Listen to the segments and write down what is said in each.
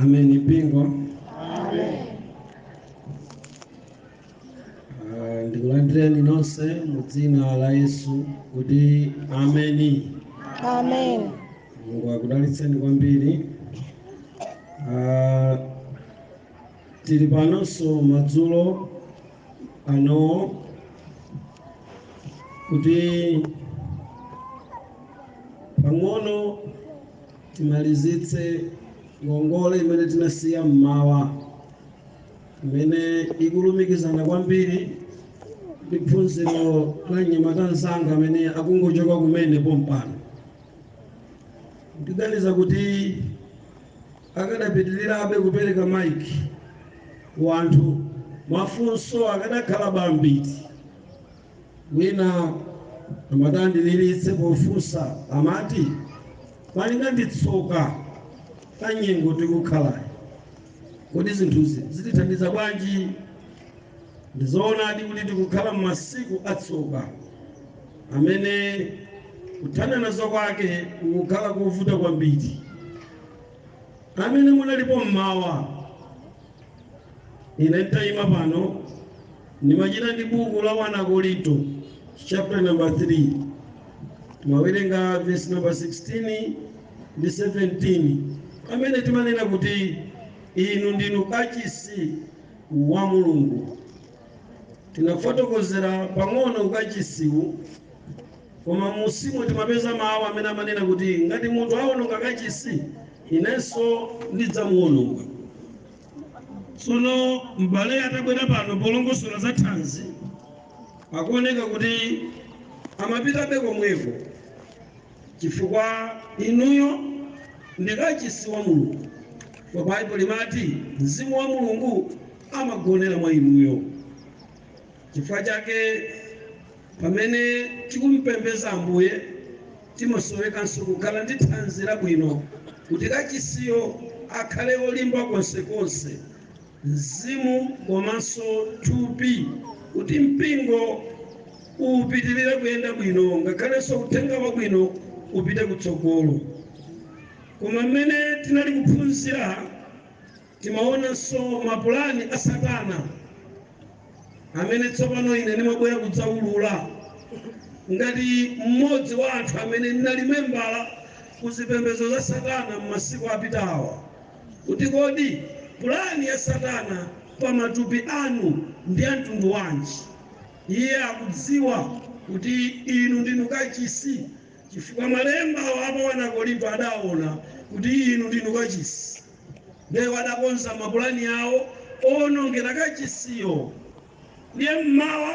Ameni mpingo. Ah, Ndikulandireni nonse mu dzina la Yesu kuti ameni. Amen. Mulungu akudalitseni kwambiri. Ah, Tili panonso madzulo ano kuti pang'ono timalizitse ngongole imene tinasiya mmawa imene ikulumikizana kwambiri ndi phunziro la mnyamata mzanga amene akungochoka kumene pompano ndiganiza kuti akadapitilirabe kupereka mic ku anthu mafunso akadakhala bambiti wina amati andiliritsa pofunsa amati malinga ndi tsoka la nyengo tikukhalayi kodi zinthuzi zitithandiza bwanji ndizoonadi kuti tikukhala m'masiku atsoka amene kuthana nazo kwake kukukhala kovuta kwambiri amene munalipo mmawa ine nditayima pano ndimachita ndi buku la 1 akorinto chapter number 3 timawerenga verse number 16 ndi 17 pamene timanena kuti inu ndinu kachisi wa mulungu tinafotokozera pang'ono ukachisiwu Koma m'munsimu timapeza mawu amene amanena kuti, Ngati munthu awononga kachisi, inenso ndidzamuwononga. Tsono m'bale atabwera pano polongosolera za thanzi, akuoneka kuti amapitabe komweko chifukwa inuyo ndi kachisi wa Mulungu. Ndipo Baibulo limati Mzimu wa Mulungu amagonera mwa inuyo. Chifukwa chake Pamene tikumupembeza Ambuye, timasowekanso kukhala ndi thanzi labwino kuti kachisiyo akhale olimba konsekonse, mzimu komanso thupi, kuti mpingo upitilire kuyenda bwino ngakhalenso uthenga wabwino upite kutsogolo. Koma mmene tinali kuphunzira. Timaonanso mapulani a Satana, amene tsopano ine ndimabwera kudzaulula, ngati mmodzi wa anthu amene ndinali membala ku zipembedzo za Satana m'masiku apitawa, kuti kodi pulani ya Satana pa matupi anu ndi ya mtundu wanji. Iye akudziwa kuti inu ndinu kachisi, chifukwa malemba awa a pa 1 Akorinto adaona kuti inu ndinu kachisi. Ndiye adakonza mapulani awo owonongera kachisiyo. Ndiye m'mawa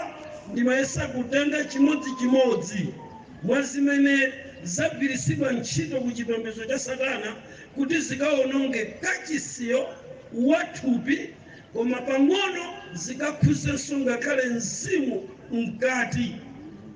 ndimayesa kutenga chimodzichimodzi mwa zimene zagwiritsidwa ntchito ku chipembedzo cha Satana kuti zikawononge kachisiyo wa thupi koma pang'ono zikakhuzenso ngakhale mzimu mkati.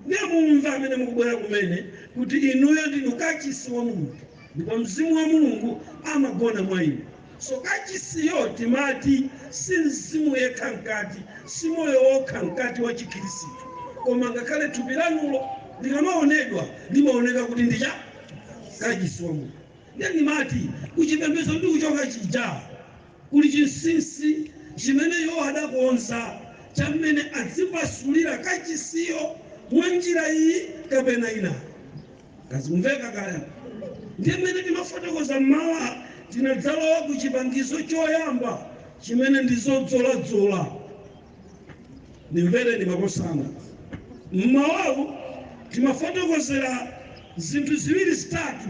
Ndiye mumve amene mukubwera kumene kuti inuyo ndinu kachisi wa Mulungu. Ndipo Mzimu wa Mulungu amagona mwa inu. So, kachisiyo timati si mzimu yekha mkati, si moyo wokha mkati wa Chikhirisitu, koma ngakhale thupi lanulo likamaonedwa limaoneka kuti ndi cha kachisi wa Mulungu. Ndiye ndimati kuchipembedzo ndikuchoka chija kuli chinsinsi chimene iwo adakonza cha mmene adzipasulira kachisiyo mwa njira iyi kapena inayo. Zikumveka kaya? Ndiye mmene timafotokoza mmawa tinadzalowa ku chipangizo choyamba chimene ndi zodzoladzola. Ndimvereni makosana. Mmawawu timafotokozera zinthu ziwiri zitatu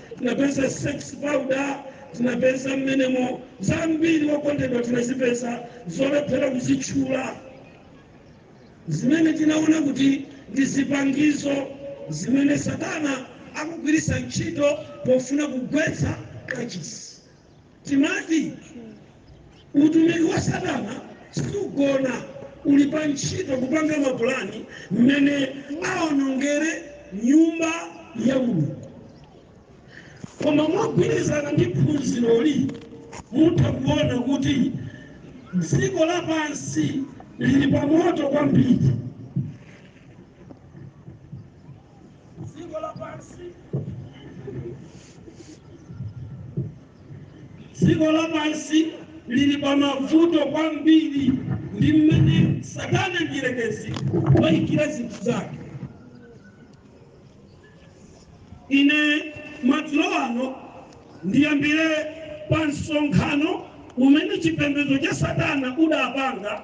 tinapeza sex powder tinapeza mmenemo zambiri wokondedwa tinazipeza zolephera kuzitchula zimene tinaona kuti ndi zipangizo zimene satana akugwiritsa ntchito pofuna kugwetsa kachisi Timati utumiki wa Satana sugona, uli pa ntchito kupanga mapulani mmene aonongere nyumba ya Mulungu. Koma mogwirizana ndi phunziroli, mutha kuona kuti dziko lapansi lili pamoto kwambiri. dziko lapansi lili pa mavuto kwambiri ndi mmene satana mdierekezi wayikira zinthu zake ine madzulo ano ndiyambire pa msonkhano umene chipembedzo cha satana udapanga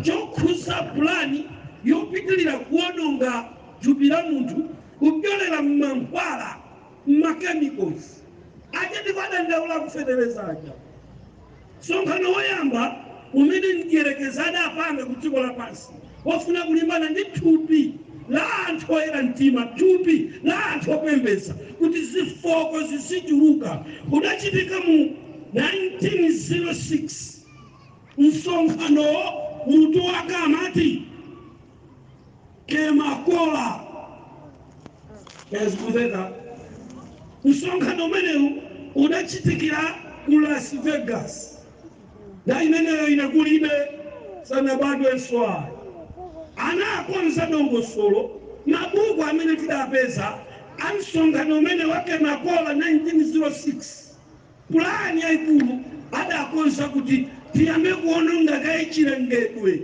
chokhuza pulani yopitirira kuwononga thupi la munthu kupyolera mmankhwala, mma chemicals, aja ndipo adandaula aku feteleza aja. Msonkhano woyamba umene mdierekezi adapanga ku dziko lapansi wofuna kulimbana ndi thupi la anthu oyera mtima, thupi la anthu opembedza, kuti zifooko zizichuluka, udachitika mu 1906. Msonkhanowo mutu wake amati. kema kola kaya zikumveka msonkhano umenewu udachitikira ku las vegas nthawi imeneyo ine kulibe sanabadwenso ayi anakonza dongosolo mabuku amene tidapeza a msonkhano umene wa kema kola 1906 pulani yaikulu adakonza kuti tiyambe kuononga kaye chilengedwe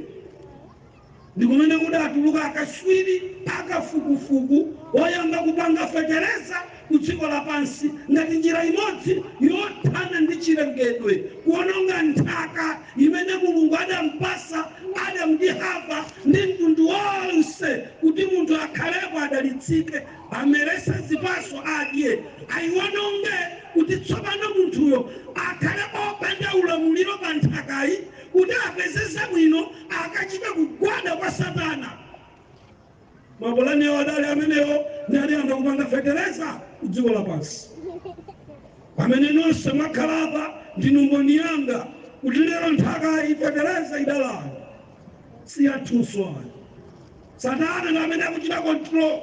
ndi kumene kudatuluka akatswiri a kafukufuku woyamba kupanga fetereza ku dziko lapansi ngati njira imodzi yothana ndi chilengedwe kuononga nthaka imene mulungu adampasa adamu ndi hava ndi mtundu wonse kuti munthu akhalepo adalitsike amerese zipaso adye ayiwononge kuti tsopano munthuyo akhale opanda ulamuliro pa nthakayi kuti apeze zabwino akachita kugwada kwa satana mapulani awo adali amenewo ndiye adayamba kupanga fetereza ku dziko lapansi pamene nonse mwakhala apa ndinu mboni yanga kuti lero nthaka ifetereza idalayo si yathunso ayi satana ndi amene akuchita control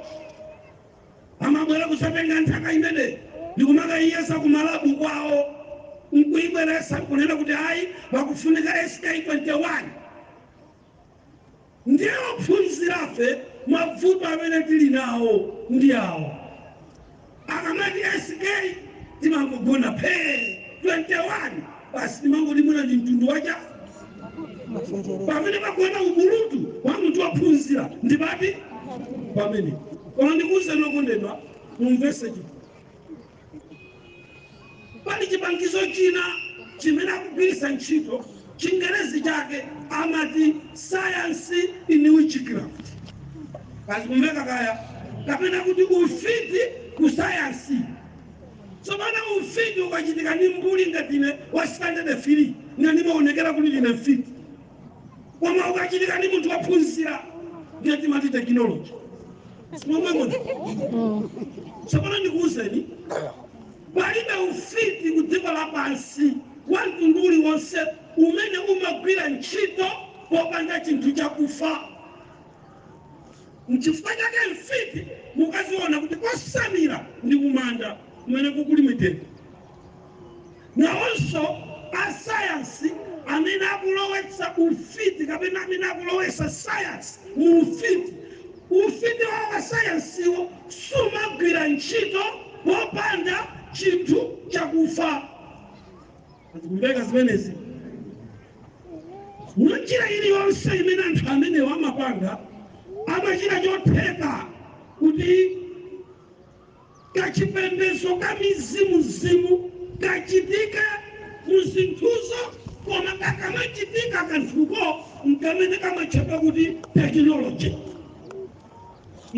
amabwera kudzatenga nthaka imene ndikumakayiyesa ku malabu kwawo nkuyibweresa kunena kuti ayi wakufunika sk 21 ndiye ophunzirafe mavuto amene tili nawo ndi awo akamati sk timangogona phee 21 basi timangoti mwina ndi mtundu wacha pamene pakuona ubulutu wa munthu wophunzira ndi pati pamene koma ndikuwuzeni okondedwa mumvese chiti pali chipangizo china chimene akugwiritsa ntchito chingerezi chake amati science in witchcraft kaya zikumveka kaya kapena kuti ufiti ku sayansi Tsopano ufiti ukachitika ndi mbuli ngati ine wa sitandade firii, ndiye ndimaonekera kuti ndine mfiti. Koma ukachitika ndi munthu wophunzira, ndiye timati tekinoloji. Si momwemo? Tsopano ndikuwuzeni, palibe ufiti ku dziko lapansi wa mtundu uliwonse umene umagwira ntchito popanda chinthu chakufa. Nchifukwa chake mfiti mukaziona kuti kosamira ndi kumanda kumene kuli mitengo. Nawonso asayansi amene akulowetsa ufiti kapena amene akulowetsa sayansi mu ufiti, ufiti wawo wa sayansiwo sumagwira ntchito popanda chinthu chakufa. Zikumveka zimenezi? Mwa njira iliyonse imene anthu amenewo amapanga, amachita chotheka kuti kachipembedzo ka mizimuzimu kachitike mu zinthuzo, koma kakamachitika kanthuko nkamene kamatchedwa kuti tekinoloji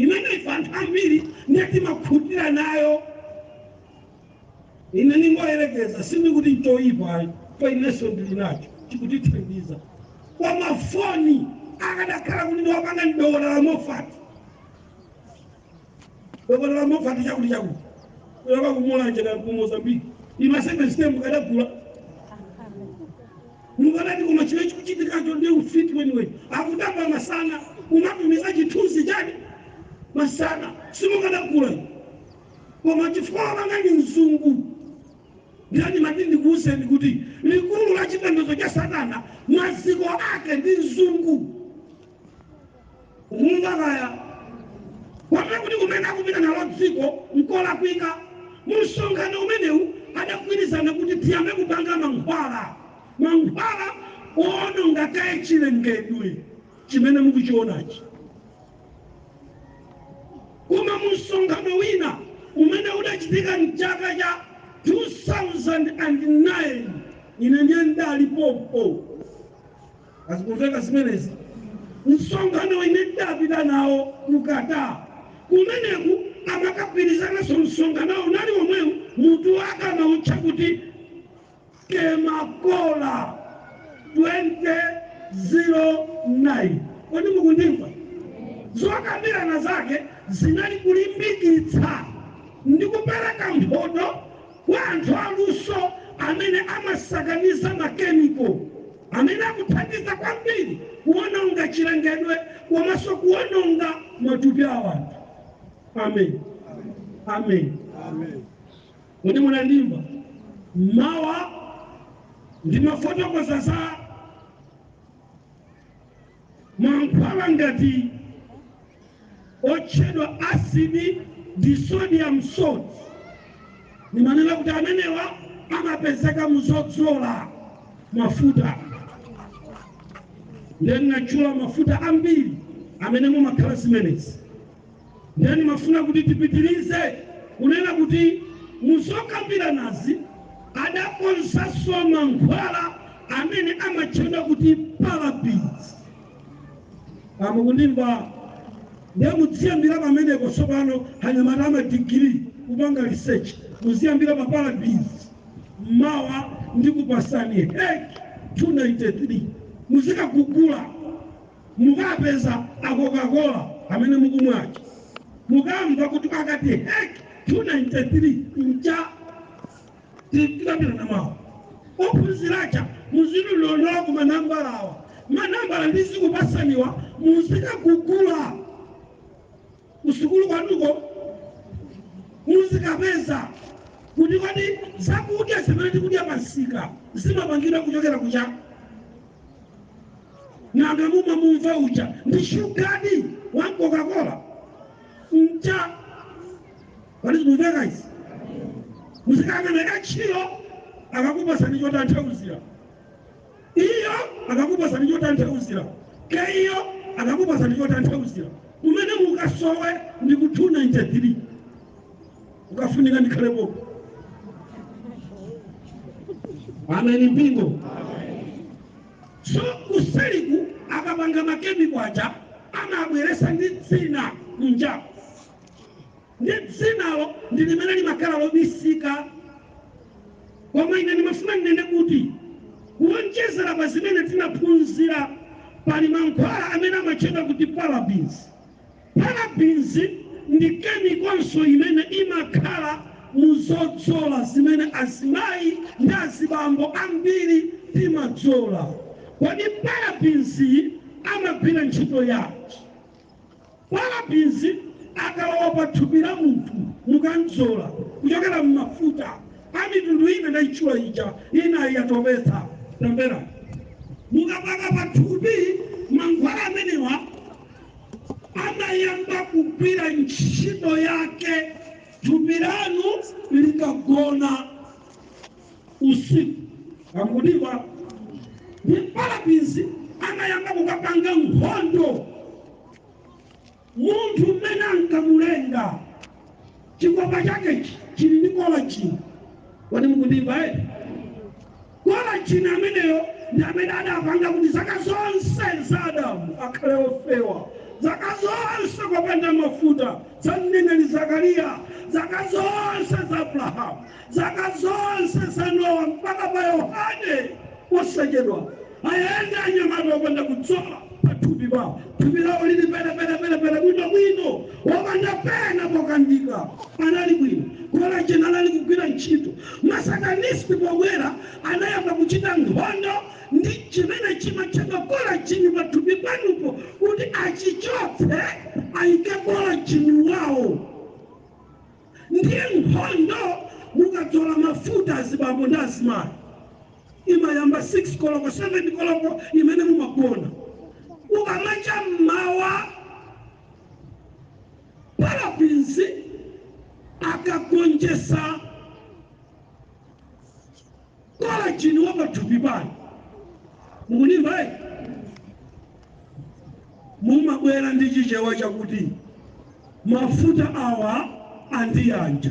imene ife anthu ambiri ndiye timakhutira nayo Ine ndingoyerekeza, sindikuti nchoyipa ayi, pa inenso ndili nacho chikutithandiza ka mafoni. Akadakhala kuti wapanga ndi Dokotala Mofati, Dokotala Mofati chakuti chakuti wa ku Mulanje wa ku Mozambique ni simukadagula mukadati koma chile chikuchitikacho ndi ufiti weniweni akutamba masana kumatumiza chithunzi chani masana simukadagula koma chifukwa wapanga ndi mzungu ndiye ndimati ndikuwuzeni kuti likulu la chipembedzo cha satana maziko ake ndi mzungu mukumva kaya kwapha kuti kumene akupita nalo dziko nkolakwika mu msonkhano umenewu adagwirizana kuti tiyambe kupanga mankhwala mankhwala owononga kaye chilengedwe chimene mukuchionachi Koma mu msonkhano wina umene udachitika m'chaka cha 2009 ine ndiye ndidalipo zikumveka zimenezi msonkhano ine ndidapita nawo ku Qatar kumeneku amakagwirizananso msonkhano unali omwewu mutu wake amautcha kuti Kemakola 2009 kodi mukundimva? Zokambirana zake zinali kulimbikitsa ndi kupereka mphoto kwa anthu aluso amene amasakaniza makemiko amene akuthandiza kwambiri kuwononga chilengedwe komanso kuwononga matupi a anthu. Amen. Amen. Amen. Kodi munandimva mmawa? ndimafotokoza za mankhwala ngati otchedwa acid disodium salt. Ndimanena kuti amenewa amapezeka muzodzola mafuta ndiye ndinatchula mafuta ambiri amene mumakhala zimenezi Ndiye ndimafuna kuti tipitirize kunena kuti mu zokambiranazi adakonzanso mankhwala amene amatchedwa kuti parabens. Ah, mukundimva? Ndiye mudziyambira pamenepo tsopano anyamata amadigiri kupanga research muziyambira pa parabens mawa ndikupatsani hek 293 muzikagugula Mukapeza a Coca-Cola amene mukumwa aja, mukamva kuti pakati hek 293 ncha tikambirana mawa ophunzira aja muzilondola koma manambala awa manambala ndizikupatsaniwa muzikagugula kusukulu kwanuko muzikapeza kuti kodi zakudya zimene tikudya pamsika zimapangidwa kuchokera ku cha nanga mumamwa uja ndi shuga wa m'coca-cola mcha kodi zikumveka izi muzikanena ka Chilo akakupatsani chotanthauzira Iyo akakupatsani chotanthauzira. ke iyo akakupatsani chotanthauzira kumene mukasowe ndi ku 293 ukafunika ndikhalepo ameni mpingo so kuseliku akapanga makemiko aja amabweretsa ndi dzina kunjako Ndiye dzinalo ndi limene limakhala lobisika. Koma ine ndimafuna ndinene kuti kuwonjezera pa zimene tinaphunzira, pali mankhwala amene amatchedwa kuti parabens. Parabens ndi kemikonso imene imakhala mu zodzola zimene azimayi ndi azibambo ambiri timadzola. Kodi parabensyi amagwira ntchito yanji? Parabens akalowa pa thupi la munthu mukadzola kuchokera mmafuta a mitundu imene ndaitchula ija, inali yotopetsa. Tamverani. Mukapaka pa thupi mankhwala amenewa amayamba kugwira ntchito yake thupi lanu likagona. usiku akukutiwa ndi parabins amayamba kukapanga nkhondo munthu mmene ankamulenga chikopa chake chili ndi kolajini kodi mukundimva eti kolajini ameneyo ndi amene adapanga kuti zaka zonse za adamu akhale ofewa zaka zonse kopanda mafuta za mneneri zakariya zaka zonse za abrahamu Zaka zonse za Nowa mpaka pa Yohane posachedwa, ayende anyamata opanda kudzola pa thupi pawo, thupi lawo lili pere pere pere pere, bwino bwino, opanda pena pokandika. Anali bwino, kolajeni anali kugwira ntchito. Ma Satanist pobwera anayamba kuchita nkhondo ndi chimene chimatchedwa kolajini pa thupi panupo kuti achichotse, ayike kolajini wawo. Ndiye nkhondo mukadzola mafuta azibambo ndi azimayi imayamba 6 koloko 7 koloko imene mumagona. Kukamacha m'mawa parabins akagonjetsa. Kolajini wa pathupi panu mukundimva eh? mumabwera ndi chichewa chakuti mafuta awa andiyanja